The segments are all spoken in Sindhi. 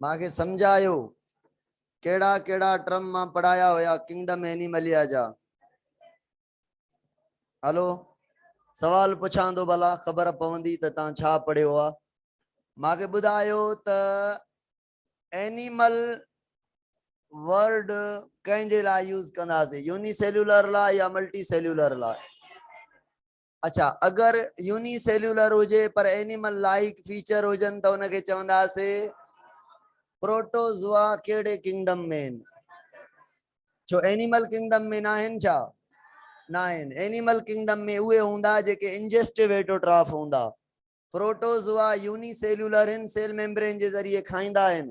مان کي سمجھايو کيڙا کيڙا ٽرم مان پڙھايا ھويا ڪنگڊم ھيني مليا جا ھلو سوال پڇان دو بھلا خبر پوندي ته تان ڇا پڙھيو آ مان کي ٻڌايو ته اينيمل ورڊ ڪنهن جي لاء يوز ڪنداسي يوني سيلولر لاء يا ملٽي سيلولر لاء اڇا اگر يوني سيلولر هجي پر اينيمل لائيڪ فيچر هجن ته ان کي چونداسي پروٽوزوا ڪهڙي ڪنگڊم ۾ آهن ڇو اينيمل ڪنگڊم ۾ ناهن ڇا ناهن اينيمل ڪنگڊم ۾ اهي هوندا جيڪي انجسٽو ايٽوٽراف هوندا پروٽوزوا يوني سيلولر هن سيل ميمبرين جي ذريعي کائيندا آهن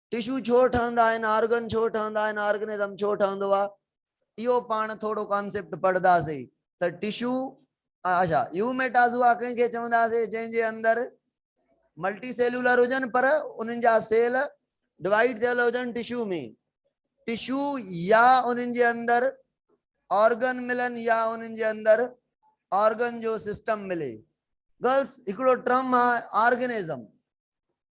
ٽشو ڇو ٺهندا آهن، آرگن ڇو ٺهندا آهن، آرگنزم ڇو ٺهندو آهي، اهو پاڻ ٿورو ڪانسيپٽ پڙهنداسين ته ٽشو اڇا يو ميٽازوا ڪنهن کي چونداسين جنهن جي اندر ملٽي سيلولر هجن پر انهن جا سيل ڊوائيڊ ٿيل هجن ٽشو ۾ ٽشو يا انهن جي اندر آرگن ملن يا انهن جي اندر آرگن جو سسٽم ملي گرلس هڪڙو ٽرم آهي آرگنزم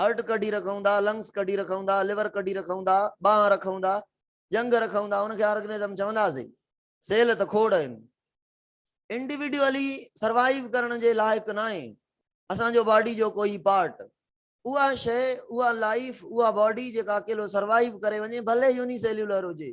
هرٽ ڪڍي رکون ٿا، لنگس ڪڍي رکون ٿا، ليور ڪڍي رکون ٿا، ٻانهن رکون ٿا، ڄنگهه رکون ٿا ان کي آرگنزم چونداسين. سيل ته کوڙ آهن. انڊيوڊيولي سروائيو ڪرڻ جي لائق ناهي اسان جو باڊي جو ڪوئي پارٽ. اها شيء، اها لائيف، اها باڊي جيڪا اڪيلو سروائيو ڪري وڃي ڀلي يوني سيليولر هجي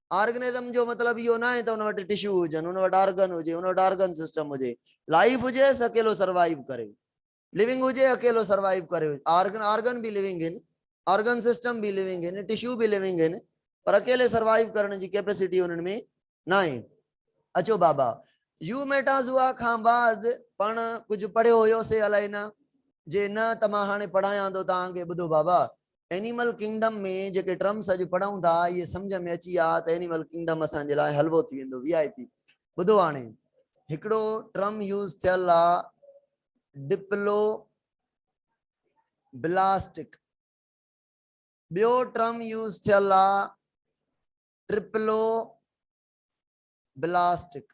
آرگنزم جو مطلب اهو ناهي ته ان وٽ ٽشو هجن، ان وٽ آرگن هجي، ان وٽ آرگن سسٽم هجي. لائيف هجي سي اڪيلو سروائيو ڪري. لوينگ هجي اڪيلو سروائيو ڪري. آرگن آرگن به لوينگ هن، آرگن سسٽم به لوينگ هن، ٽشو به لوينگ هن پر اڪيلي سروائيو ڪرڻ جي ڪيپيسٽي انهن ۾ ناهي. اچو بابا يوميٽازوا کان بعد پاڻ ڪجهه پڙهيو هيو سي الائي نه، جي نه ته مان هاڻي پڙهايان ٿو توهان کي ٻڌو بابا اينيمل ڪنگڊم ۾ جيڪي ٽرمس اڄ پڙهون ٿا اهي سمجهه ۾ اچي ويا ته اينيمل ڪنگڊم اسان جي لاء حلوو ٿي ويندو وي آء پي ٻڌو هاڻي هڪڙو ٽرم يوز ٿيل آ ڊپلو بلاسٽڪ ٻيو ٽرم يوز ٿيل آ ٽرپلو بلاسٽڪ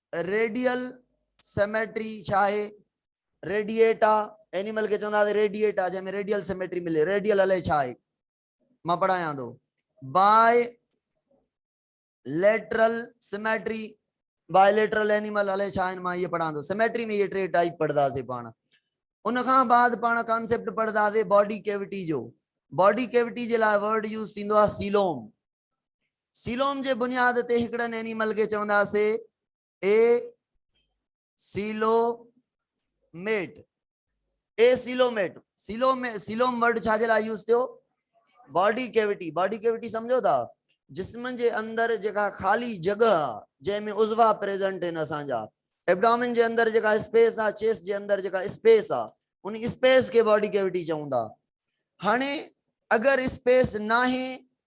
ريڊيل سيميٽري ڇا آهي؟ ريڊيئيٽا، اينيمل کي چوندا هئا ريڊيئيٽا جنهن ۾ ريڊيل سيميٽري ملي، ريڊيل الئي ڇا آهي؟ مان پڙهايان ٿو. Bilateral symmetry, bilateral animal الئي ڇا آهن مان اهي پڙهان ٿو. سيميٽري ۾ اهي ٽي ٽائيپ پڙهنداسين پاڻ. ان کان بعد پاڻ ڪانسيپٽ پڙهنداسين باڊي ڪيوٽي جو. باڊي ڪيوٽي جي لاء ورڊ يوز ٿيندو آهي سيلوم. سيلوم جي بنياد تي هڪڙن اينيمل کي چونداسي acoelomate acoelomate coelom coelom word ڇا جي لاء يوز ٿيو باڊي ڪيوٽي باڊي ڪيوٽي سمجھو ٿا جسم جي اندر جيڪا خالي جڳھ آ جنهن ۾ عضوا پريزنٽ آهن اسان جا ابڊامن جي اندر جيڪا اسپيس آ چيس جي اندر جيڪا اسپيس آ ان اسپيس کي باڊي ڪيوٽي چون ٿا هاڻي اگر اسپيس ناهي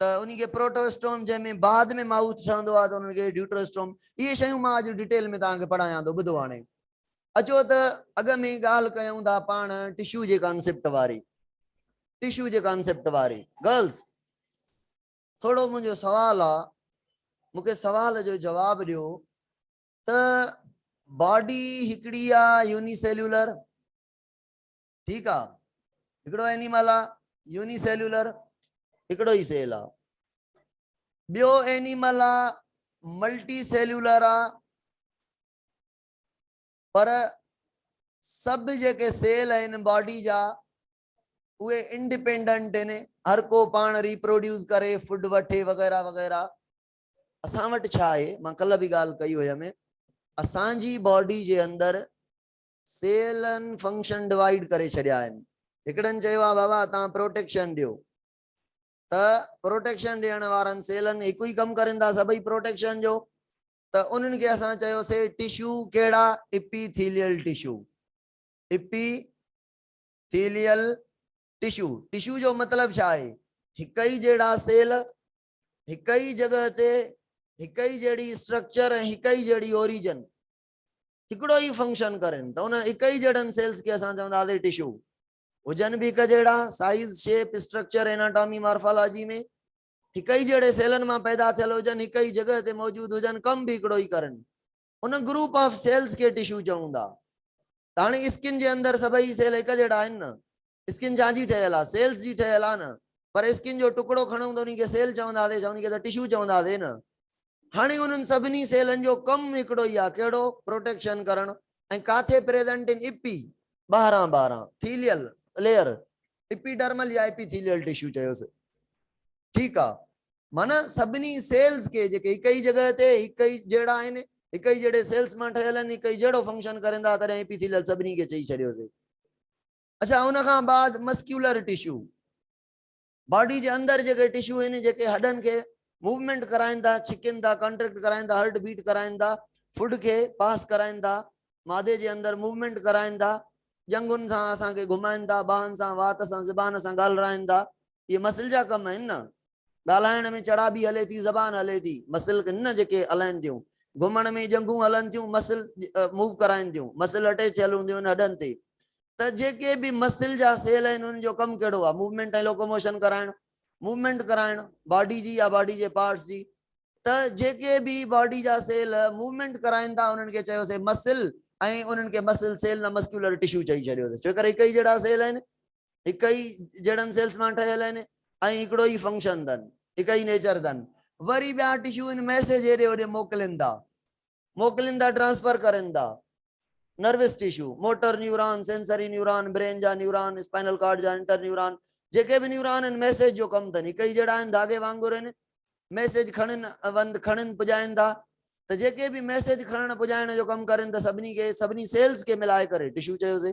ته انهي کي پروٽواسٽوم جنهن ۾ بعد ۾ مائوٿ ٺهندو آهي ته انهن کي ڊيوٽرواسٽوم اهي شيون مان اڄ ڊيٽيل ۾ توهان کي پڙهايان ٿو ٻڌو هاڻي اچو ته اڳ ۾ ڳالهه ڪيون ٿا پاڻ ٽشو جي ڪانسيپٽ واري ٽشو جي ڪانسيپٽ واري گرلس ٿورو منهنجو سوال آ مونکي سوال جو جواب ڏيو ته باڊي هڪڙي آ يوني سيلولر ٺيڪ آ هڪڙو اينيمل آ يوني سيلولر هڪڙو ئي سيل آ ٻيو اينيمل آ ملٽي سيلولر آ پر سڀ جيڪي سيل آهن باڊي جا اهي انڊيپينڊنٽ آهن هر ڪو پاڻ ريپروڊيوس ڪري فوڊ وٺي وغيرہ وغيرہ اسان وٽ ڇا آهي مان ڪل به ڳالهه ڪئي هئم اسان جي باڊي جي اندر سيلن فنڪشن ڊوائيڊ ڪري ڇڏيا آهن هڪڙن چيو آهي بابا توهان پروٽيڪشن ڏيو ته پروٽيڪشن ڏيڻ وارن سيلن هڪ ئي ڪم ڪرين ٿا سڀئي پروٽيڪشن جو ته انهن کي اسان چيوسي ٽشو ڪهڙا epithelial tissue epithelial tissue tissue جو مطلب ڇا آهي هڪ ئي جهڙا سيل هڪ ئي جڳهه تي هڪ ئي جهڙي اسٽرڪچر ۽ هڪ ئي جهڙي اوريجن هڪڙو ئي فنڪشن ڪرين ته ان هڪ ئي جهڙن سيلز کي اسان چونداسين ٽشو. هجن به هڪ جهڙا، size, shape, structure, anatomy, morphology ۾ هڪ ئي جهڙي سيلن مان پيدا ٿيل هجن، هڪ ئي جڳهه تي موجود هجن، ڪم به هڪڙو ئي ڪرن. ان گروپ آف سيلز کي ٽشو چئون ٿا. ته هاڻي اسڪن جي اندر سڀئي سيل هڪ جهڙا آهن نه؟ اسڪن ڇا جي ٺهيل آ سيلز جي ٺهيل آ نه پر اسڪن جو ٽڪڙو کڻون ته انهي کي سيل چوندا سي انهي کي ته ٽشو چوندا سي نه هاڻي انهن سڀني سيلن جو ڪم هڪڙو ئي آ ڪهڙو پروٽيڪشن ڪرڻ ۽ ڪاٿي پريزنٽ ان اپي ٻاهران ٻاهران ٿيليل ليئر اپي ڊرمل يا اپي ٿيليل ٽشو چيو سي ٺيڪ آ معنيٰ سڀني سيلز کي جيڪي هڪ ئي جڳهه تي هڪ ئي جهڙا آهن هڪ ئي جهڙي سيلز مان ٺهيل آهن هڪ ئي جهڙو فنڪشن ڪرين ٿا تڏهن اپي ٿيليل سڀني کي چئي ڇڏيو سي اڇا ان کان بعد مسڪيولر ٽشو باڊي جي اندر جيڪي ٽشو آهن جيڪي هڏن کي موومينٽ ڪرائين ٿا ڇڪين ٿا ڪانٽريڪٽ ڪرائين ٿا هرٽ بيٽ ڪرائين ٿا فوڊ کي پاس ڪرائين ٿا معدي جي اندر موومينٽ ڪرائين ٿا ڄنگهن سان اسان کي گهمائين ٿا ٻانهن سان وات سان زبان سان ڳالهرائين ٿا اهي مسل جا ڪم آهن نه ڳالهائڻ ۾ چڙابي هلي ٿي، زبان هلي ٿي، مسل هن جيڪي هلائن ٿيون، گهمڻ ۾ ڄنگهون هلن ٿيون، مسل موو ڪرائن ٿيون، مسل اٽيچ ٿيل هونديون آهن هڏن تي ته جيڪي به مسل جا سيل آهن انهن جو ڪم ڪهڙو آهي موومينٽ ۽ لوڪوموشن ڪرائڻ، موومينٽ ڪرائڻ باڊي جي يا باڊي جي پارٽس جي ته جيڪي به باڊي جا سيل موومينٽ ڪرائن ٿا انهن کي چيوسي مسل ۽ انهن کي مسل سيل نه مسڪيولر ٽشو چئي ڇڏيوسي ڇوڪر هڪ ئي جهڙا سيل آهن هڪ ئي جهڙن سيلز مان ٺهيل آهن ۽ هڪڙو ئي فنڪشن اٿن، هڪ ئي نيچر اٿن. وري ٻيا ٽشو ان ميسيج هيڏي هوڏي موڪلين ٿا، موڪلين ٿا ٽرانسفر ڪرين ٿا. Nervous tissue, motor neuron, sensory neuron, brain جا نيوران، اسپائنل ڪارڊ جا انٽر نيوران، جيڪي به نيوران آهن ميسيج جو ڪم اٿن، هڪ ئي جهڙا آهن ڌاڳي وانگر آهن، ميسيج کڻن وند کڻن پڄائين ٿا ته جيڪي به ميسيج کڻڻ پڄائڻ جو ڪم ڪرين ته سڀني کي سڀني سيلز کي ملائي ڪري ٽشو چيو سي.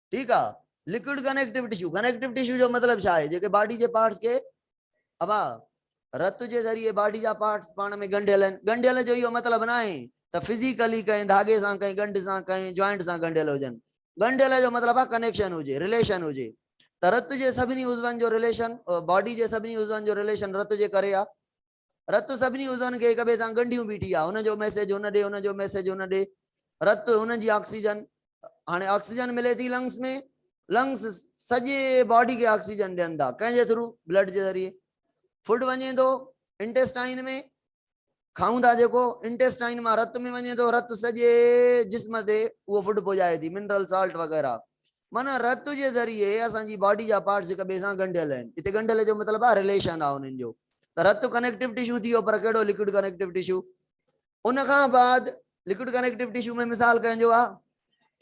ٺيڪ آ liquid connective tissue connective tissue جو مطلب ڇا آهي جيڪي باڊي جي پارٽس کي ابا رت جي ذريعي باڊي جا پارٽس پاڻ ۾ ڳنڍيل آهن ڳنڍيل جو اهو مطلب نه آهي ته فزيڪلي ڪنهن ڌاڳي سان ڪنهن ڳنڍ سان ڪنهن جوائنٽ سان ڳنڍيل هجن ڳنڍيل جو مطلب آهي ڪنيڪشن هجي رليشن هجي ته رت جي سڀني عضون جو رليشن باڊي جي سڀني عضون جو رليشن رت جي ڪري آ رت سڀني عضون کي هڪٻئي سان ڳنڍيون بيٺي آ هن جو ميسيج هن ڏي هن جو ميسيج هن ڏي رت هن جي آڪسيجن هاڻي آڪسيجن ملي ٿي لنگس ۾ لنگس سڄي باڊي کي آڪسيجن ڏين ٿا ڪنهن جي ٿرو بلڊ جي ذريعي فوڊ وڃي ٿو انٽيسٽائن ۾ کائون ٿا جيڪو انٽيسٽائن مان رت ۾ وڃي ٿو رت سڄي جسم تي اهو فوڊ پڄائي ٿي منرل سالٽ وغيره معنيٰ رت جي ذريعي اسان جي باڊي جا پارٽس هڪ ٻئي سان ڳنڍيل آهن. هتي ڳنڍيل جو مطلب آهي رليشن آهي انهن جو. ته رت ڪنيڪٽو ٽشو ٿي ويو پر ڪهڙو لڪوڊ ڪنيڪٽو ٽشو. ان کان بعد لڪوڊ ڪنيڪٽو ٽشو ۾ مثال ڪنهن جو آهي.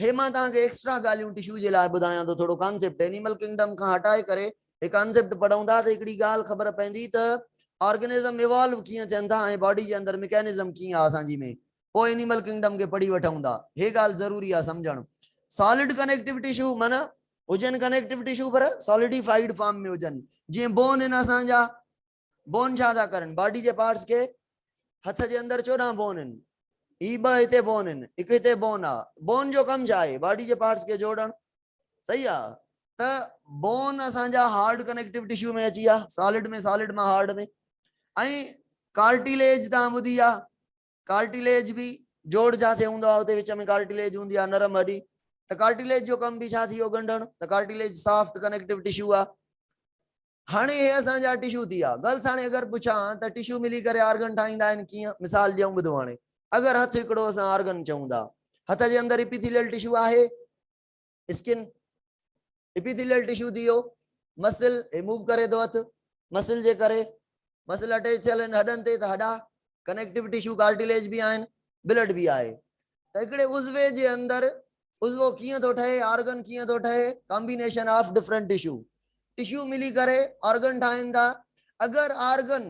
هي مان توهان کي ايڪسٽرا ڳالهيون ٽشو جي لاء ٻڌايان ٿو ٿورو ڪانسيپٽ اينيمل ڪنگڊم کان هٽائي ڪري هي ڪانسيپٽ پڙهون ٿا ته هڪڙي ڳالهه خبر پوندي ته آرگنزم ايوالو ڪيئن ٿين ٿا ۽ باڊي جي اندر مڪينزم ڪيئن آهي اسان جي ۾ پوء انيمل ڪنگڊم کي پڙهي وٺون ٿا. هي ڳالهه ضروري آهي سمجهڻ. سالڊ ڪنيڪٽو ٽشو معنيٰ هجن ڪنيڪٽو ٽشو پر سالڊي فائيڊ فارم ۾ هجن جيئن بون هن اسان جا بون ڇا ٿا ڪرن باڊي جي پارٽس کي هٿ جي اندر چوڏهن بون آهن هي ٻه هتي بون آهن هڪ هتي بون آ بون جو ڪم ڇا آهي باڊي جي پارٽس کي جوڙڻ صحيح آ ته بون اسان جا هارڊ ڪنيڪٽو ٽشو ۾ اچي آ سالڊ ۾ سالڊ مان هارڊ ۾ ۽ ڪارٽيليج تان ٻڌي آ ڪارٽيليج به جوڙ جاتي هوندو آهي اتي وچ ۾ ڪارٽيليج هوندي آهي نرم هڏي ته ڪارٽيليج جو ڪم به ڇا ٿي ويو ڳنڍڻ ته ڪارٽيليج سافٽ ڪنيڪٽو ٽشو آهي هاڻي اهي اسان جا ٽشو ٿي ويا گرلس هاڻي اگر پڇان ته ٽشو ملي ڪري آرگن ٺاهيندا آهن ڪيئن مثال ڏيون ٻڌو هاڻي اگر هٿ هڪڙو اسان آرگن چون ٿا هٿ جي اندر اپيٿيليل ٽشو آهي اسڪن، ايپيٿيليل ٽشو ٿي ويو، مسل هي موو ڪري ٿو هٿ مسل جي ڪري، مسل اٽيچ ٿيل آهن هڏن تي ته هڏا ڪنيڪٽو ٽشو ڪارٽيليج به آهن، بلڊ به آهي ته هڪڙي عضوي جي اندر عضوو ڪيئن ٿو ٺهي، آرگن ڪيئن ٿو ٺهي، combination of different tissue, tissue ملي ڪري آرگن ٺاهين ٿا، اگر آرگن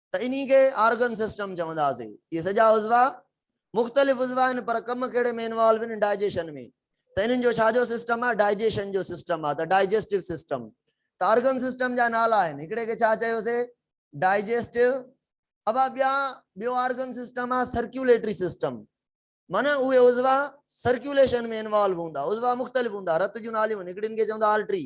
ته انهي کي آرگن سسٽم چونداسين. اهي سڄا عضوا مختلف عضوا آهن پر ڪم ڪهڙي ۾ انوالو آهن ڊائجيشن ۾ ته انهن جو ڇا جو سسٽم آهي ڊائجيشن جو سسٽم آهي ته ڊائجيسٽو سسٽم ته آرگن سسٽم جا نالا آهن هڪڙي کي ڇا چيوسي ڊائجيسٽو ابا ٻيا ٻيو آرگن سسٽم آهي سرڪيوليٽري سسٽم معنيٰ اهي عضوا سرڪيوليشن ۾ انوالو هوندا عضوا مختلف هوندا رت جون ناليون هڪڙين کي چوندا آرٽري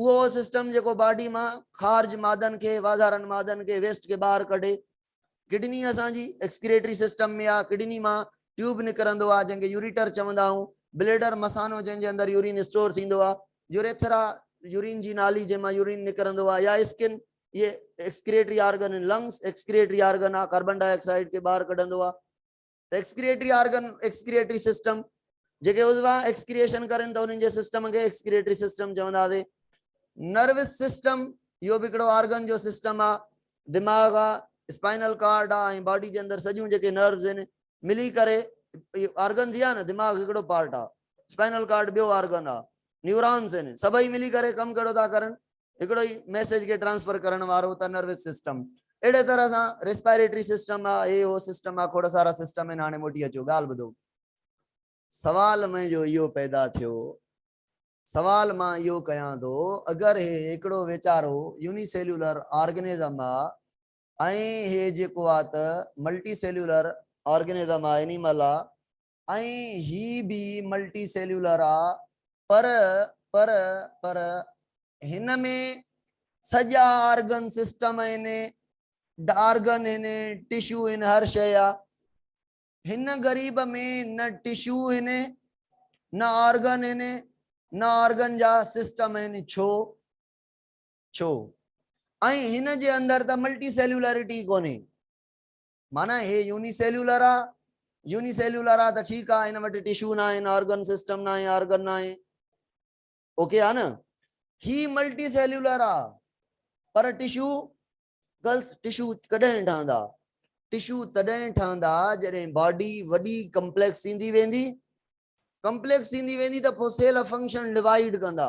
اهو سسٽم جيڪو باڊي مان خارج مادن کي واڌارن مادن کي ويسٽ کي ٻاهر ڪڍي ڪڊني اسان جي ايڪسڪريٽري سسٽم ۾ آ ڪڊني مان ٽيوب نڪرندو آ جنهن کي يوريٽر چوندا آهون بليڊر مسانو جنهن جي اندر يورين اسٽور ٿيندو آ يوريٿرا يورين جي نالي جنهن مان يورين نڪرندو آ يا اسڪن اهي excretory organ lungs excretory organ آ ڪاربن ڊاء آڪسائيڊ کي ٻاهر ڪڍندو آ ايڪسڪريٽري آرگن، ايڪسڪريٽري سسٽم، جيڪي عضوا ايڪسڪريشن ڪرن ته انهن جي سسٽم کي ايڪسڪريٽري سسٽم چونداسين. نروس سسٽم، اهو به هڪڙو آرگن جو سسٽم آ، دماغ آ، اسپائنل ڪارڊ آ ۽ باڊي جي اندر سڄيون جيڪي نروس هن ملي ڪري اهي آرگن جي آ نه دماغ هڪڙو پارٽ آ، اسپائنل ڪارڊ ٻيو آرگن آ، نيورانس هن سڀئي ملي ڪري ڪم ڪهڙو ٿا ڪرن هڪڙو ئي ميسيج کي ٽرانسفر ڪرڻ وارو ته نروس سسٽم اهڙي طرح سان ريسپائريٽري سسٽم آ هي هو سسٽم آ کوڙ سارا سسٽم آهن هاڻي موٽي اچو ڳالهه ٻڌو سوال منهنجو اهو پيدا ٿيو سوال مان اهو ڪيان ٿو اگر هي هڪڙو ويچارو يوني سيلولر آرگنزم آ ۽ هي جيڪو آ ته ملٽي سيلولر آرگنزم آ انيمل آ ۽ هي به ملٽي سيليولر آ پر پر پر هن ۾ سڄا آرگن سسٽم آهن آرگن آهن ٽشو آهن هر شيء آ هن غريب ۾ نه ٽشو آهن نه آرگن آهن نه آرگن جا سسٽم آهن ڇو ڇو ۽ هن جي اندر ته ملٽي سيليولرٽي ڪونهي معنيٰ هي يوني سيلولر آ يوني سيلولر آ ته ٺيڪ آ هن وٽ ٽشو نه آهن آرگن سسٽم نه آهي آرگن نه آهي اوڪي آ نه هي ملٽي سيلولر آ پر ٽشو گرلس ٽشو ڪڏهن ٺهندا ٽشو تڏهن ٺهندا جڏهن باڊي وڏي ڪمپليڪس ٿيندي ويندي ڪمپليڪس ٿيندي ويندي ته پوء سيل فنڪشن ڊوائيڊ ڪندا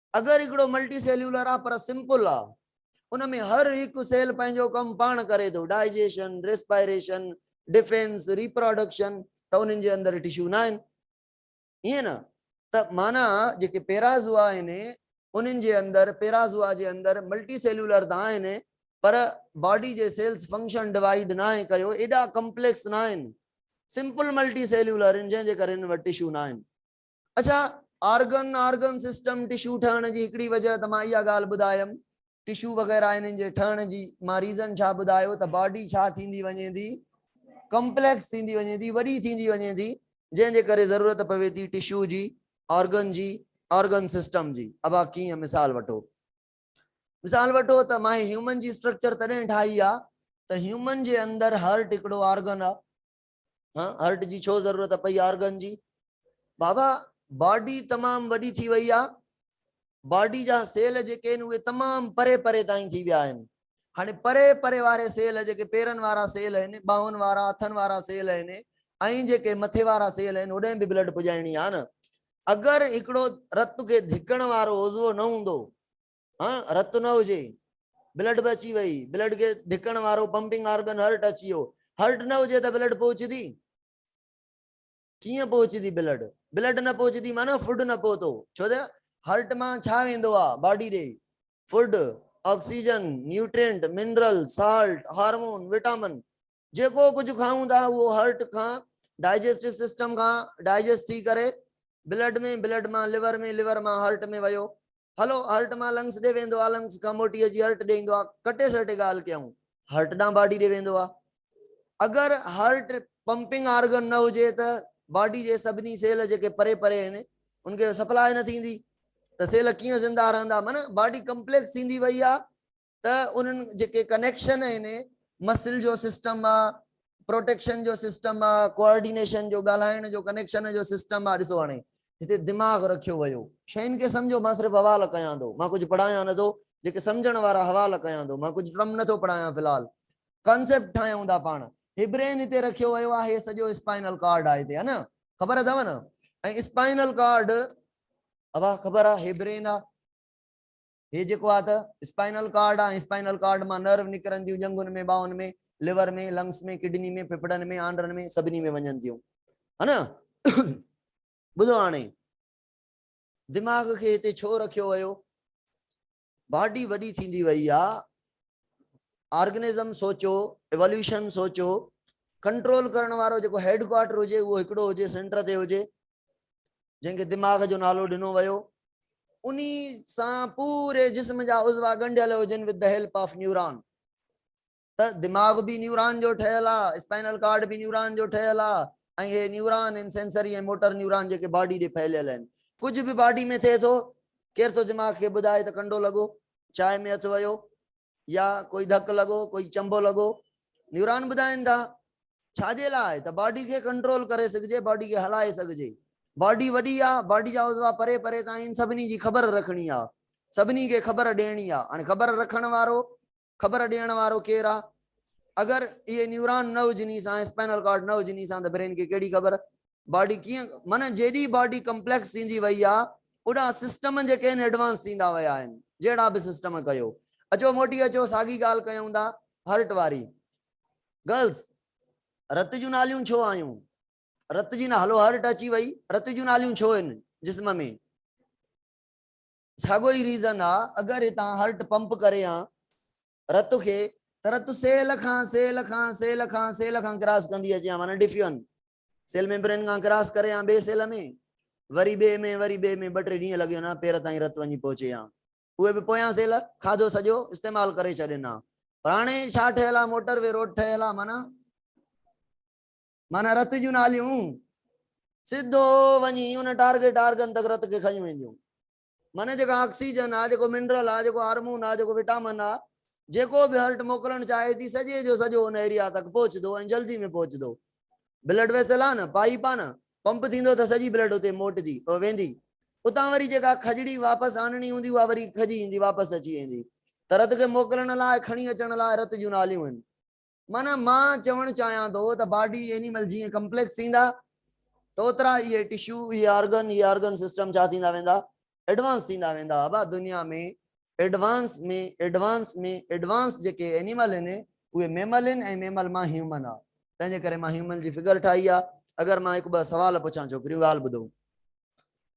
اگر هڪڙو ملٽي سيليولر آ پر سمپل آ ان ۾ هر هڪ سيل پنهنجو ڪم پاڻ ڪري ٿو ڊائجيشن، ريسپائريشن، ڊفينس، ريپراڊڪشن ته انهن جي اندر ٽشو ناهن ائين نه ته معنيٰ جيڪي پيرازوا آهن انهن جي اندر پيرازوا جي اندر ملٽي سيليولر ته آهن پر باڊي جي سيلز فنڪشن ڊوائيڊ ناهي ڪيو ايڏا ڪمپليڪس ناهن سمپل ملٽي سيليولر آهن جنهن جي ڪري انهن وٽ ٽشو ناهن. اڇا آرگن Organ سسٽم ٽشو ٺهڻ جي هڪڙي وجه ته مان اها ڳالهه ٻڌايم ٽشو وغيره انهن جي ٺهڻ جي مان ريزن ڇا ٻڌايو ته باڊي ڇا ٿيندي وڃي ٿي ڪمپليڪس ٿيندي وڃي ٿي وڏي ٿيندي وڃي ٿي جنهن جي ڪري ضرورت پوي ٿي ٽشو جي آرگن جي آرگن سسٽم جي ابا ڪيئن مثال وٺو مثال وٺو ته ماهي هيومن جي اسٽرڪچر تڏهن ٺاهي آ ته هيومن جي اندر هارٽ هڪڙو آرگن آ ها هرٽ جي ڇو ضرورت پئي آرگن جي بابا باڊي تمام وڏي ٿي وئي آ باڊي جا سيل جيڪي آهن اهي تمام پري پري تائين ٿي ويا آهن هاڻي پري پري واري سيل جيڪي پيرن وارا سيل آهن ٻانهن وارا هٿن وارا سيل آهن ۽ جيڪي مٿي وارا سيل آهن هوڏانهن به بلڊ پڄائڻي آ نه اگر هڪڙو رت کي ڌڪڻ وارو عضو نه هوندو ها رت نه هجي بلڊ به اچي وئي بلڊ کي ڌڪڻ وارو پمپنگ آرگن هرٽ اچي ويو هرٽ نه هجي ته بلڊ پهچدي ڪيئن پهچدي بلڊ بلڊ نه پهچدي معنی فوڊ نه پهتو ڇو ته هرٽ مان ڇا ويندو آ باڊي ڏي food oxygen nutrient mineral salt hormone vitamin جيڪو ڪجهه کائون ٿا اهو هرٽ کان ڊائجسٽو سسٽم کان ڊائجسٽ ٿي ڪري بلڊ ۾ بلڊ مان ليور ۾ ليور مان هرٽ ۾ ويو هلو هرٽ مان لنگس ڏي ويندو آ لنگس کان موٽي اچي هرٽ ڏي ايندو آ ڪٽي سٽي ڳالهه ڪيون هرٽ ڏانهن باڊي ڏي ويندو آ اگر هرٽ پمپنگ آرگن نه هجي ته باڊي جي سڀني سيل جيڪي پري پري آهن ان کي سپلاء نه ٿيندي ته سيل ڪيئن زنده رهندا معنی باڊي ڪمپليڪس ٿيندي وئي آ ته انهن جيڪي ڪنيڪشن آهن مسل جو سسٽم آ پروٽيڪشن جو سسٽم آ ڪوآرڊينيشن جو ڳالهائڻ جو ڪنيڪشن جو سسٽم آ ڏسو هاڻي هتي دماغ رکيو ويو شين کي سمجهو مان صرف حوال ڪيان ٿو مان ڪجهه پڙهايان نه ٿو جيڪي سمجهڻ وارا حوال ڪيان ٿو مان ڪجهه ٽرم نه ٿو پڙهايان في الحال ڪانسيپٽ ٺاهيون ٿا پاڻ هي برين هتي رکيو ويو آ هي سڄو اسپائنل ڪارڊ آ هتي ها نه خبر اٿو نه ۽ اسپائنل ڪارڊ ابا خبر آ هي برين آ هي جيڪو آهي ته اسپائنل ڪارڊ آهي، اسپائنل ڪارڊ مان نرو نڪرن ٿيون، ڄنگهن ۾، ٻانهن ۾، لور ۾، لنگس ۾، ڪڊني ۾، ڦڦڙن ۾، آنڊرن ۾ سڀني ۾ وڃن ٿيون. ها نه؟ ٻڌو هاڻي دماغ کي هتي ڇو رکيو ويو؟ باڊي وڏي ٿيندي وئي آ، آرگنزم سوچو، ايواليوشن سوچو، ڪنٽرول ڪرڻ وارو جيڪو هيڊ ڪوارٽر هجي اهو هڪڙو هجي، سينٽر تي هجي، جنهن کي دماغ جو نالو ڏنو ويو انهي سان پوري جسم جا عضوا ڳنڍيل هجن with the help of neuron ته دماغ به نيوران جو ٺهيل آ اسپائنل ڪارڊ به نيوران جو ٺهيل آ ۽ هي نيوران ان سينسري ۽ موٽر نيوران جيڪي باڊي ڏي ڦهليل آهن ڪجهه به باڊي ۾ ٿئي ٿو ڪير ٿو دماغ کي ٻڌائي ته ڪنڊو لڳو چاء ۾ هٿ ويو يا ڪوئي ڌڪ لڳو ڪوئي چنبو لڳو نيوران ٻڌائين ٿا ڇا جي لاء ته باڊي کي ڪنٽرول ڪري سگهجي باڊي کي هلائي سگهجي باڊي وڏي آهي باڊي جا عضوا پري پري تائين سڀني جي خبر رکڻي آهي سڀني کي خبر ڏيڻي آهي هاڻي خبر رکڻ وارو خبر ڏيڻ وارو ڪير آهي اگر اهي نيوران نه هجني سان اسپائنل ڪارڊ نه هجني سان ته برين کي ڪهڙي خبر باڊي ڪيئن معنيٰ جيڏي باڊي ڪمپليڪس ٿيندي وئي آ اوڏا سسٽم جيڪي آهن ايڊوانس ٿيندا ويا آهن جهڙا به سسٽم ڪيو اچو موٽي اچو ساڳي ڳالهه ڪيون ٿا هرٽ واري گرلس رت جون ناليون ڇو آيون رت جي نه هلو هرٽ اچي وئي رت جون ناليون ڇو آهن جسم ۾ ساڳو ئي ریزن آ اگر هتان هرٽ پمپ ڪري آ رت کي ته رت سيل کان سيل کان سيل کان سيل کان ڪراس ڪندي اچي آ معنيٰ ڊفيون سيل ميمبرين کان ڪراس ڪري آن ٻئي سيل ۾ وري ٻئي ۾ وري ٻئي ۾ ٻه ٽي ڏينهن لڳي وڃان پير تائين رت وڃي پهچي آن اهي به پويان سيل کاڌو سڄو استعمال ڪري ڇڏين آن پر هاڻي ڇا ٺهيل آ موٽر وي روڊ ٺهيل آ معنيٰ معنيٰ رت جون ناليون سڌو وڃي ان ٽارگي ٽارگن تڪ رت کي کنيون وينديون معني جيڪا آڪسيجن آ، جيڪو منرل آ، جيڪو هارمون آ، جيڪو وٽامن آ، جيڪو به هرٽ موڪلڻ چاهي ٿي سڄي جو سڄو ان ايريا تڪ پهچدو ۽ جلدي ۾ پهچدو. بلڊ ويسل آ نه، پائيپ آ نه، پمپ ٿيندو ته سڄي بلڊ اتي موٽجي، ويندي. اتان وري جيڪا کجڙي واپس آڻڻي هوندي اها وري کجي ايندي، واپس اچي ويندي. ته رت کي موڪلڻ لاء، کڻي اچڻ لاء رت جون ناليون آهن. معنيٰ مان چوڻ چاهيان ٿو ته باڊي اينيمل جيئن ڪمپليڪس ٿيندا ته اوترا اهي ٽشو اهي آرگن اهي آرگن سسٽم ڇا ٿيندا ويندا ايڊوانس ٿيندا ويندا ابا دنيا ۾ ايڊوانس ۾ ايڊوانس ۾ ايڊوانس جيڪي اينيمل آهن اهي ميمل آهن ۽ ميمل مان هيومن آ تنهن جي ڪري مان هيومن جي فگر ٺاهي آ اگر مان هڪ ٻه سوال پڇان ڇوڪريون ڳالهه ٻڌو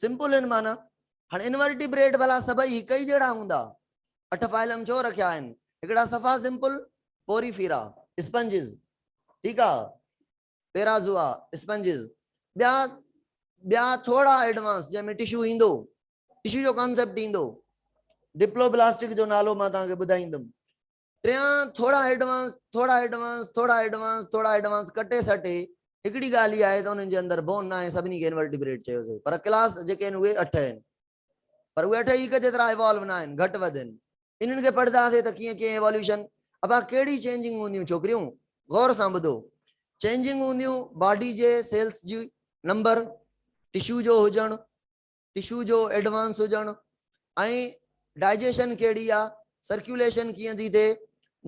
سمپل ان معنيٰ هاڻ انورٽيبريٽ ڀلا سڀئي هڪ ئي جهڙا هوندا؟ اٺ فائلم ڇو رکيا آهن؟ هڪڙا صفا سمپل پوريفيرا اسپنجز ٺيڪ آ پيرازوا اسپنجز ٻيا ٻيا ٿورا ايڊوانس جنهن ۾ ٽشو ايندو ٽشو جو ڪانسيپٽ ايندو ڊپلوبلاسٽڪ جو نالو مان توهان کي ٻڌائيندم ٽيان، ٿورا ايڊوانس، ٿورا ايڊوانس، ٿورا ايڊوانس، ٿورا ايڊوانس ڪٽي سٽي هڪڙي ڳالهه هي آهي ته انهن جي اندر بون ناهي سڀني کي انورٽيبريٽ چيوسي پر ڪلاس جيڪي آهن اهي اٺ آهن پر اهي اٺ هڪ جيترا ايوالو ناهن گهٽ وڌ آهن انهن کي پڙهنداسي ته ڪيئن ڪيئن ايواليوشن ابا ڪهڙي چينجنگ هونديون ڇوڪريون غور سان ٻڌو چينجنگ هونديون باڊي جي سيلس جي نمبر ٽشو جو هجڻ ٽشو جو ايڊوانس هجڻ ۽ ڊائجيشن ڪهڙي آ، سرڪيوليشن ڪيئن ٿي ٿئي،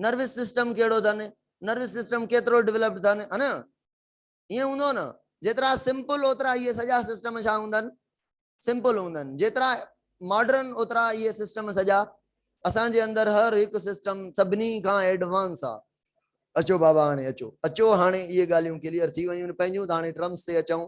نروس سسٽم ڪهڙو اٿن، نروس سسٽم ڪيترو ڊولپڊ اٿن ها نه ائين هوندو نه جيترا سمپل اوترا اهي سڄا سسٽم ڇا هوندا آهن سمپل هوندا آهن جيترا ماڊرن اوترا اهي سسٽم سڄا اسان جي اندر هر هڪ سسٽم سڀني کان ايڊوانس آ اچو بابا هاڻي اچو اچو هاڻي اهي ڳالهيون ڪليئر ٿي ويون پنهنجون ته هاڻي ٽرمس تي اچون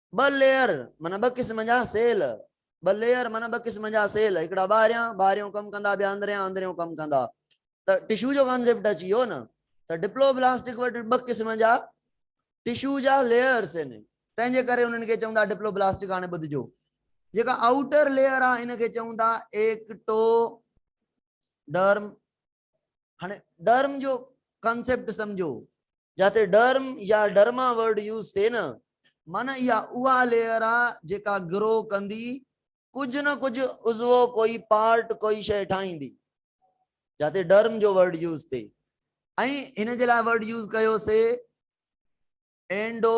ٻه ليئر معنيٰ ٻه قسم جا سيل ٻه ليئر معنيٰ ٻه قسم جا سيل هڪڙا ٻاهريان ٻاهريون ڪم ڪندا ٻيا اندريان اندريون ڪم ڪندا ته ٽشو جو ڪانسيپٽ اچي ويو نه ته ڊپلو بلاسٽڪ وٽ ٻه قسم جا ٽشو جا ليئرس آهن تنهن جي ڪري انهن کي چون ٿا ڊپلو بلاسٽڪ هاڻي ٻڌجو جيڪا آؤٽر ليئر آهي ان کي چون ٿا ايڪٽو ڊرم هاڻي ڊرم جو ڪانسيپٽ سمجهو، جاتي ڊرم يا ڊرما ورڊ يوز ٿئي نه، معنيٰ اها اها ليئر آ جيڪا گرو ڪندي، ڪجهه نه ڪجهه عضوو ڪوئي پارٽ ڪوئي شيء ٺاهيندي، جاتي ڊرم جو ورڊ يوز ٿئي ۽ هن جي لاء ورڊ يوز ڪيو سي اينڊو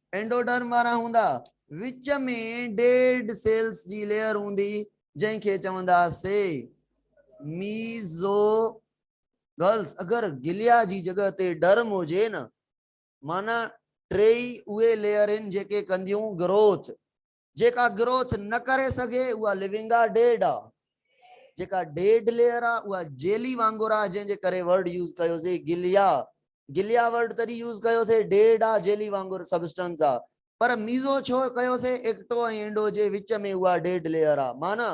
اينڊوڊرم وارا هوندا. وچ ۾ ڊيڊ سيلز جي ليئر هوندي جنهن کي چوندا سي ميزوگلز اگر گليا جي جڳهه تي ڊرم هجي نه معنيٰ ٽي ئي اهي ليئر هن جيڪي ڪنديون گروٿ. جيڪا گروٿ نه ڪري سگهي اها لونگ آ ڊيڊ آ. جيڪا ڊيڊ ليئر آ اها جيلي وانگر آ جنهن جي ڪري ورڊ يوز ڪيوسي گليا گليا ورڊ تڏهن يوز ڪيوسي ڊيڊ آ جيلي وانگر سبسٽنس آ پر ميزو ڇو ڪيوسي ايڪٽو ۽ انڊو جي وچ ۾ اها ڊيڊ ليئر آ معنيٰ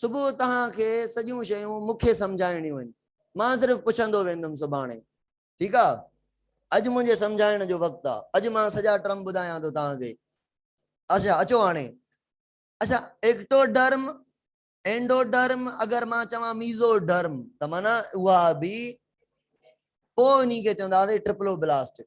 صبح توهان کي سڄيون شيون مون کي سمجهائڻيون آهن. مان صرف پڇندو ويندم سڀاڻي. ٺيڪ آ. اڄ منهنجي سمجهائڻ جو وقت آ. اڄ مان سڄا ٽرم ٻڌايان ٿو توهان کي. اڇا اچو هاڻي. اڇا ايڪٽوڊرم، اينڊوڊرم اگر مان چوان ميزوڊرم ته معنيٰ اها به پوء انهي کي چونداسين ٽرپلوبلاسٽڪ.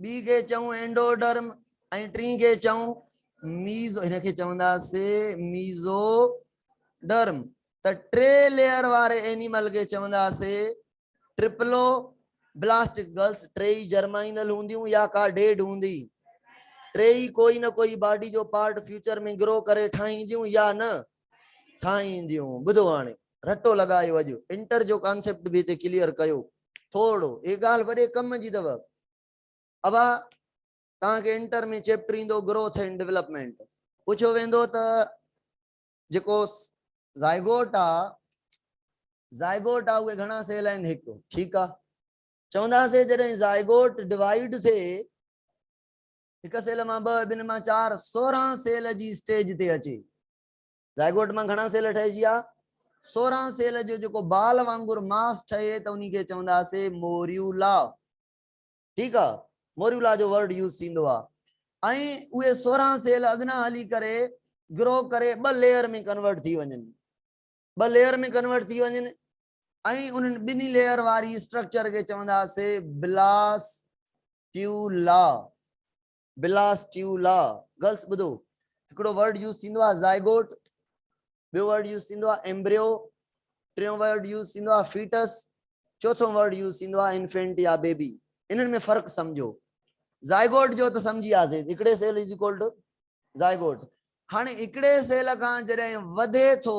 ٻي کي چئون اينڊوڊرم ۽ ٽين کي چئون ميز هن کي چونداسين ميزو ڊرم ته ٽي ليئر واري اينيمل کي چونداسين ٽرپلو بلاسٽڪ گرلس ٽي ئي جرمائنل هونديون يا ڪا ڊيڊ هوندي ٽي ئي ڪوئي نه ڪوئي باڊي جو پارٽ فيوچر ۾ گرو ڪري ٺاهينديون يا نه ٺاهينديون. ٻڌو هاڻي رٽو لڳايو اڄ انٽر جو ڪانسيپٽ به هتي ڪليئر ڪيو ٿورڙو هي ڳالهه وڏي ڪم جي اٿو ابا توهان کي انٽر ۾ چيپٽر ايندو گروٿ اينڊ ڊيولپمينٽ پڇيو ويندو ته جيڪو زائگوٽ آ زائگوٽ آ اهي گهڻا سيل آهن هڪ ٺيڪ آ چونداسي جڏهن زائگوٽ ڊوائيڊ ٿئي هڪ سيل مان ٻه، ٻن مان چار، سورهن سيل جي اسٽيج تي اچي. زائگوٽ مان گهڻا سيل ٺهجي ها؟ سورهن سيل جو جيڪو بال وانگر ماس ٺهي ته انهي کي چونداسي موريولا. ٺيڪ آ. موريولا جو ورڊ يوز ٿيندو آ. ۽ اهي سورهن سيل اڳنا هلي ڪري گرو ڪري ٻه ليئر ۾ ڪنورٽ ٿي وڃن. ٻه ليئر ۾ ڪنورٽ ٿي وڃن. ۽ انهن ٻنهي ليئر واري اسٽرڪچر کي چونداسين بلاسٽيولا Blastula گرلس ٻڌو هڪڙو ورڊ يوز ٿيندو آهي زائگوٽ ٻيو ورڊ يوز ٿيندو آهي ايمبريو ٽيون ورڊ يوز ٿيندو آهي فيٽس چوٿون ورڊ يوز ٿيندو آهي انفينٽ يا بيبي انهن ۾ فرق سمجھو زائگوٽ جو ته سمجھي وياسين هڪڙي cell is equal to zygote هاڻي هڪڙي سيل کان جڏهن وڌي ٿو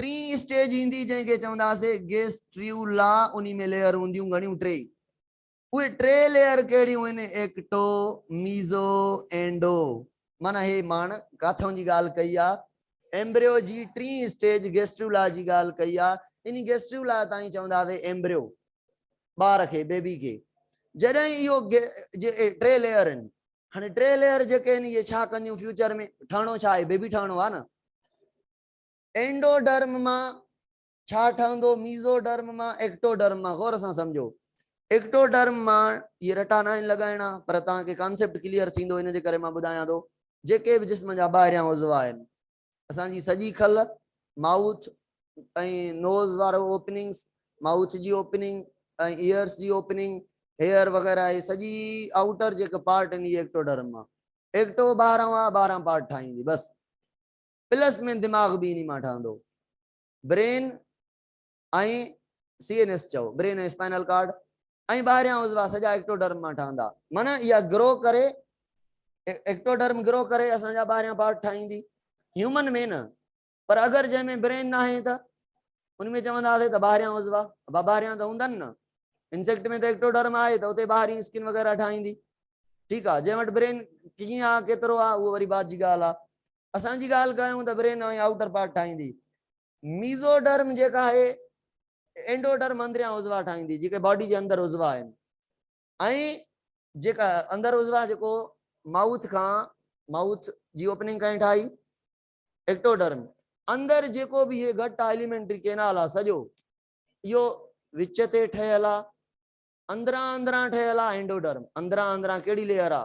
ٽين اسٽيج ايندي جنهن کي چونداسي گيس ٽريو لا انهي ۾ ليئر هونديون گهڻيون ٽي ئي اهي ٽي ليئر ڪهڙيون هن ايڪٽو ميزو اينڊو معنيٰ هي ماڻ ڪاٿون جي ڳالهه ڪئي آ ايمبريو جي ٽين اسٽيج گيسٽريو لا جي ڳالهه ڪئي آ انهي گيسٽريو لا تائين چونداسي ايمبريو ٻار کي بيبي کي جڏهن اهو ٽي ليئر آهن هاڻي ٽي ليئر جيڪي آهن اهي ڇا ڪنديون فيوچر ۾ ٺهڻو ڇا آهي بيبي ٺهڻو آ نه اينڊوڊرم مان ڇا ٺهندو، ميزوڊرم مان، ايڪٽوڊرم مان غور سان سمجهو. ايڪٽوڊرم مان اهي رٽا ناهن لڳائڻا پر توهان کي ڪانسيپٽ ڪليئر ٿيندو ان جي ڪري مان ٻڌايان ٿو. جيڪي به جسم جا ٻاهريان عضوا آهن اسان جي سڄي کل، مائوٿ ۽ نوز وارو اوپننگس، مائوٿ جي اوپننگ ۽ ايئرس جي اوپننگ، هيئر وغيره اهي سڄي آئوٽر جيڪي پارٽ آهن اهي ايڪٽوڊرم مان ايڪٽو ٻاهران آهي ٻاهران پارٽ ٺاهيندي بس. پلس مين دماغ به انهي مان ٺهندو. برين ۽ سي اين ايس چئو برين ۽ اسپائنل ڪارڊ ۽ ٻاهريان عضوا سڄا ايڪٽوڊرم مان ٺهندا. معنيٰ اها گرو ڪري ايڪٽوڊرم گرو ڪري اسان جا ٻاهريان پارٽ ٺاهيندي. هيومن ۾ نه پر اگر جنهن ۾ برين ناهي ته ان ۾ چونداسين ته ٻاهريان عضوا ابا ٻاهريان ته هوندن نه انسيڪٽ ۾ ته ايڪٽوڊرم آهي ته اتي ٻاهرين اسڪن وغيره ٺاهيندي. ٺيڪ آهي جنهن وٽ برين ڪيئن آهي ڪيترو آهي اهو وري بعد جي ڳالهه آهي. اسان جي ڳالهه ڪيون ته برين ۽ آئوٽر پارٽ ٺاهيندي. ميزوڊرم جيڪا آهي اينڊوڊرم اندريان عضوا ٺاهيندي جيڪي باڊي جي اندر عضوا آهن ۽ جيڪا اندر عضوا جيڪو مائوٿ کان مائوٿ جي اوپننگ کان ٺاهي ايڪٽوڊرم اندر جيڪو به هي گهٽ ايليمينٽري ڪينال آ سڄو اهو وچ تي ٺهيل آ اندران اندران ٺهيل آ اينڊوڊرم اندران اندران ڪهڙي ليئر آ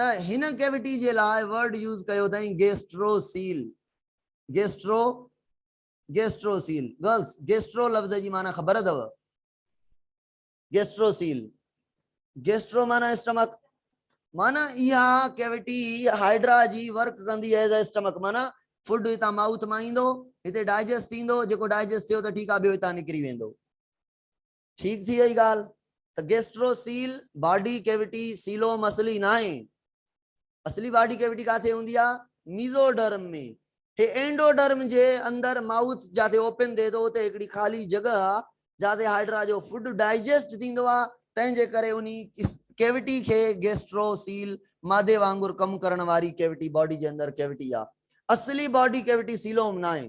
ته هن ڪيوٽي جي لاء ورڊ يوز ڪيو اٿائين gastrocoel gastro gastrocoel girls gastro لفظ جي معنيٰ خبر اٿو گيسٽرو سيل گيسٽرو معنيٰ اسٽمڪ معنی اها ڪيوٽي هائيڊرا جي ورڪ ڪندي ايز اي اسٽمڪ معنی فوڊ هتان ماؤٿ مان ايندو هتي ڊائجسٽ ٿيندو جيڪو ڊائجسٽ ٿيو ته ٺيڪ آ ٻيو هتان نڪري ويندو ٺيڪ ٿي وئي ڳالهه ته gastrocoel body cavity coelom اصلي ناهي اصلي باڊي ڪيوٽي ڪاٿي هوندي آ ميزو ڊرم ۾ هي اينڊو ڊرم جي اندر ماوٿ جاٿي اوپن ٿئي ٿو اتي هڪڙي خالي جڳهه آ جاٿي هائيڊرا جو فوڊ ڊائجسٽ ٿيندو آ تنهن جي ڪري انهي ڪيوٽي کي گيسٽرو سيل مادي وانگر ڪم ڪرڻ واري ڪيوٽي باڊي جي اندر ڪيوٽي آ اصلي باڊي ڪيوٽي سيلوم ناهي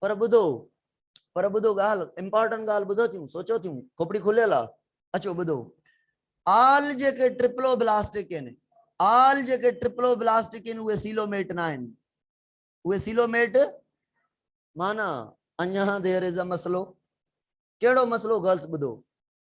پر ٻڌو پر ٻڌو ڳالهه امپارٽنٽ ڳالهه ٻڌو ٿيون سوچو ٿيون کوپڙي کليل آ اچو ٻڌو آل جيڪي ٽرپلو بلاسٽڪ آهن آل جيڪي ٽرپلو بلاسٽڪ آهن اهي سيلوميٽ نه آهن اهي سيلوميٽ مانا اڃا دير از ا مسئلو ڪهڙو مسئلو گرلس ٻڌو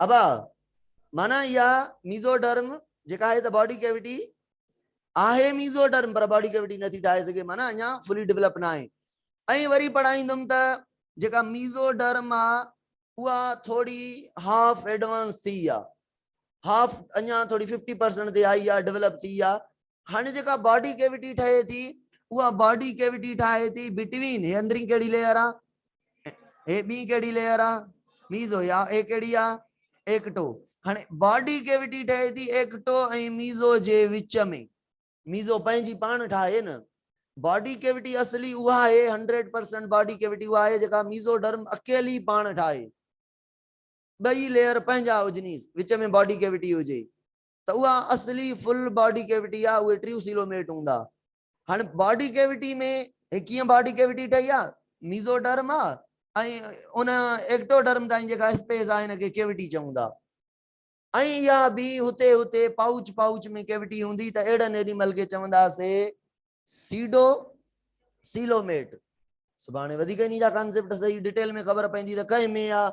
ابا، معنيٰ اها ميزوڊرم جيڪا آهي ته باڊي ڪيوٽي آهي ميزوڊرم پر باڊي ڪيوٽي نٿي ٺاهي سگهي معنيٰ اڃا فلي ڊولپ نه آهي ۽ وري پڙهائيندم ته جيڪا ميزوڊرم آهي اها ٿوري هاف ايڊوانس ٿي آهي هاف اڃا ٿوري ففٽي پرسنٽ تي آئي آهي ڊولپ ٿي آهي هاڻي جيڪا باڊي ڪيوٽي ٺهي ٿي اها باڊي ڪيوٽي ٺاهي ٿي بٽوين هي اندرين ڪهڙي ليئر آ هي ٻي ڪهڙي ليئر آ ميزو يا اي ڪهڙي آ ايڪٽو هاڻي باڊي ڪيوٽي ٺهي ٿي ايڪٽو ۽ ميزو جي وچ ۾ ميزو پنهنجي پاڻ ٺاهي نه باڊي ڪيوٽي اصلي اها آهي 100% باڊي ڪيوٽي اها آهي جيڪا ميزو ڊرم اڪيلي پاڻ ٺاهي ٻئي ليئر پنهنجا هجنيس وچ ۾ باڊي ڪيوٽي هجي ته اها اصلي فل باڊي ڪيوٽي آهي اهي ٽريوسيلوميٽ هوندا هاڻ باڊي ڪيوٽي ۾ هي ڪيئن باڊي ڪيوٽي ٺهي آهي ميزوڊرم آهي ۽ ان ايڪٽوڊرم تائين جيڪا اسپيس آهي ان کي ڪيوٽي چئون ٿا ۽ اها به هتي هتي پائوچ پائوچ ۾ ڪيوٽي هوندي ته اهڙن اينيمل کي چونداسي سيڊو سيلوميٽ سڀاڻي وڌيڪ انهي جا ڪانسيپٽ صحيح ڊيٽيل ۾ خبر پوندي ته ڪنهن ۾ آهي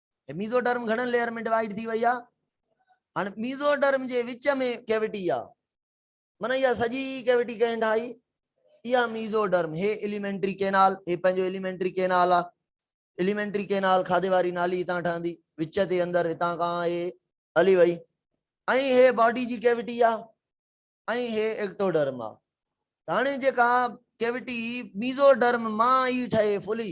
هي ميزوڊرم گهڻن ليئر ۾ ڊوائيڊ ٿي وئي آهي هاڻ ميزوڊرم جي وچ ۾ ڪيوٽي آهي من اها سڄي ڪيوٽي ڪنهن ٺاهي اها ميزوڊرم هي اليمينٽري ڪينال هي پنهنجو اليمينٽري ڪينال آهي اليمينٽري ڪينال کاڌي واري نالي هتان ٺهندي وچ تي اندر هتان کان هي هلي وئي ۽ هي باڊي جي ڪيوٽي آهي ۽ هي ايڪٽوڊرم آهي هاڻي جيڪا ڪيوٽي ميزوڊرم مان ئي ٺهي فلي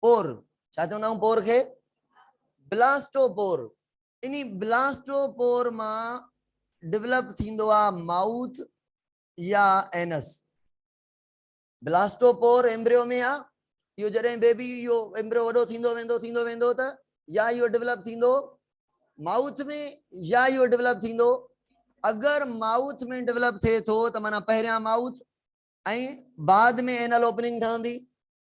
پور، ڇا چوندا آهيون پور کي؟ بلاسٽو پور، انهي بلاسٽو پور مان ڊولپ ٿيندو آهي مائوٿ يا اينس. بلاسٽو پور ايمبريو ۾ آهي، اهو جڏهن بيبي اهو ايمبريو وڏو ٿيندو ويندو ٿيندو ويندو ته يا اهو ڊولپ ٿيندو مائوٿ ۾ يا اهو ڊولپ ٿيندو اگر مائوٿ ۾ ڊولپ ٿئي ٿو ته معنيٰ پهريان مائوٿ ۽ بعد ۾ اينل اوپننگ ٺهندي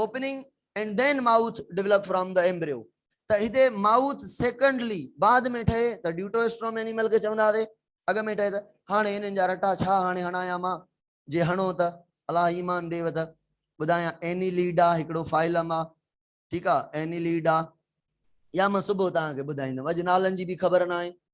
opening and then mouth develop from the embryo ته هتي مائوٿ سيڪنڊلي بعد ۾ ٺهي ته ڊيوٽوئسٽروم اينيمل کي چوندا هئاسي اڳ ۾ ٺهي ته هاڻي انهن جا رٽا ڇا هاڻي هڻايان مان جي هڻو ته الله ايمان ڏيو ته ٻڌايان اينيليڊا هڪڙو فائلم آ ٺيڪ آ اينيليڊا يا مان صبح توهان کي ٻڌائيندم اڄ نالن جي به خبر ناهي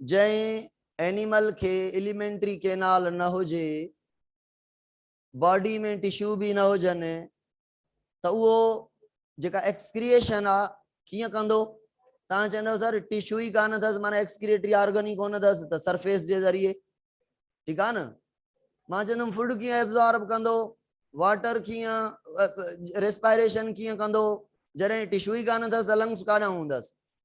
جنهن اينيمل کي اليمينٽري ڪينال نه هجي، باڊي ۾ ٽشو به نه هجن ته اهو جيڪا ايڪسڪريئيشن آ ڪيئن ڪندو؟ توهان چوندو سر ٽشو ئي ڪانه اٿس معنيٰ ايڪسڪريٽري آرگن ئي ڪونه اٿس ته سرفيس جي ذريعي ٺيڪ آ نه مان چوندم فوڊ ڪيئن ابزارب ڪندو واٽر ڪيئن ريسپائريشن ڪيئن ڪندو جڏهن ٽشو ئي ڪانه اٿس لنگس ڪاڏانهن هوندس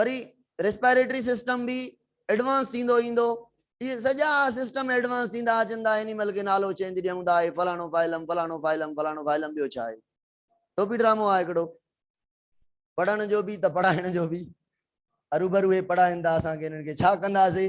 وري ريسپائريٽري سسٽم به ايڊوانس ٿيندو ايندو اهي سڄا سسٽم ايڊوانس ٿيندا اچن ته اينيمل کي نالو چينج ڏيون ٿا هي فلاڻو فائلم فلاڻو فائلم فلاڻو فائلم ٻيو ڇا آهي ٽوپي ڊرامو آهي هڪڙو پڙهڻ جو به ته پڙهائڻ جو به اروبرو هي پڙهائن ٿا اسان کي هنن کي ڇا ڪنداسي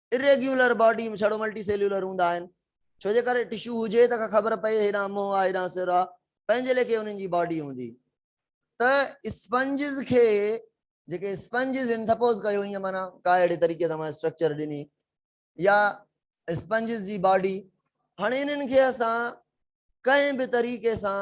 اريگيولر باڊي ۾ ڇڙو ملٽي سيليولر هوندا آهن، ڇو جي ڪري ٽشو هجي ته ڪا خبر پئي هيڏانهن منهن آ هيڏانهن سر آ، پنهنجي ليکي انهن جي باڊي هوندي ته اسپنجز کي جيڪي اسپنجز هن سپوز ڪيو ائين معنيٰ ڪا اهڙي طريقي سان معنيٰ اسٽرڪچر ڏني يا اسپنجز جي باڊي هاڻي انهن کي اسان ڪنهن به طريقي سان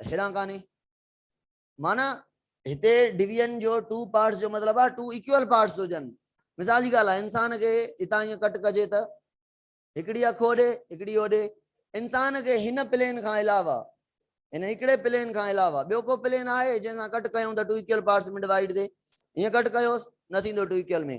هيڏانهن ڪانهي. معنيٰ هتي ڊويزن جو ٽو پارٽس جو مطلب آهي ٽو ايڪوئل پارٽس هجن. مثال جي ڳالهه آهي انسان کي هتان ائين ڪٽ ڪجي ته هڪڙي اک هوڏي هڪڙي هوڏي. انسان کي هن پلين کان علاوه هن هڪڙي پلين کان علاوه ٻيو ڪو پلين آهي جنهن سان ڪٽ ڪيون ته ٽو ايڪوئل پارٽس ۾ ڊوائيڊ ٿئي. هيئن ڪٽ ڪيوس نه ٿيندو ٽو ايڪوئل ۾.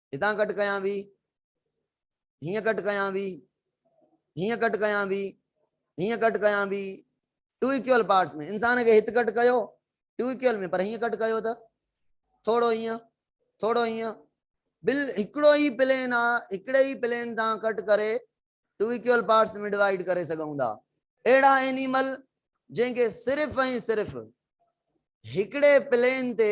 هتان ڪٽ ڪيان وي، هيئن ڪٽ ڪيان وي، هيئن ڪٽ ڪيان وي، هيئن ڪٽ ڪيان وي، ٽو اڪيول پارٽس ۾ انسان کي هت ڪٽ ڪيو ٽو اڪيول ۾ پر هيئن ڪٽ ڪيو ته ٿورو هيئن ٿورو هيئن بل هڪڙو ئي پلين آ هڪڙي ئي پلين تان ڪٽ ڪري ٽو اڪيول پارٽس ۾ ڊوائيڊ ڪري سگهون ٿا اهڙا اينيمل جن کي صرف ۽ صرف هڪڙي پلين تي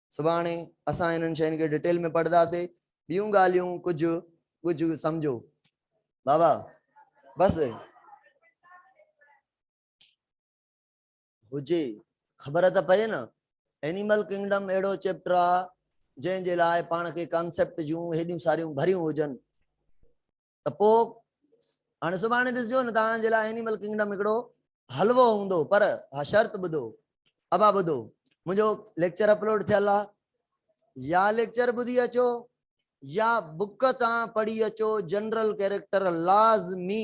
سڀاڻي اسان انهن شين کي ڊٽيل ۾ پڙهنداسي ٻيون ڳالهيون ڪجهه ڪجهه سمجهو بابا بس هجي خبر ته پئي نه اينيمل ڪنگڊم اهڙو چيپٽر آ جنهن جي لاء پاڻ کي ڪانسيپٽ جون هيڏيون ساريون ڀريون هجن ته پوء هاڻي سڀاڻي ڏسجو نه توهان جي لاء اينيمل ڪنگڊم هڪڙو حلوو هوندو پر ها شرط ٻڌو ابا ٻڌو منهنجو ليڪچر اپلوڊ ٿيل آ يا ليڪچر ٻڌي اچو يا بڪ تان پڙهي اچو جنرل ڪيريڪٽر لازمي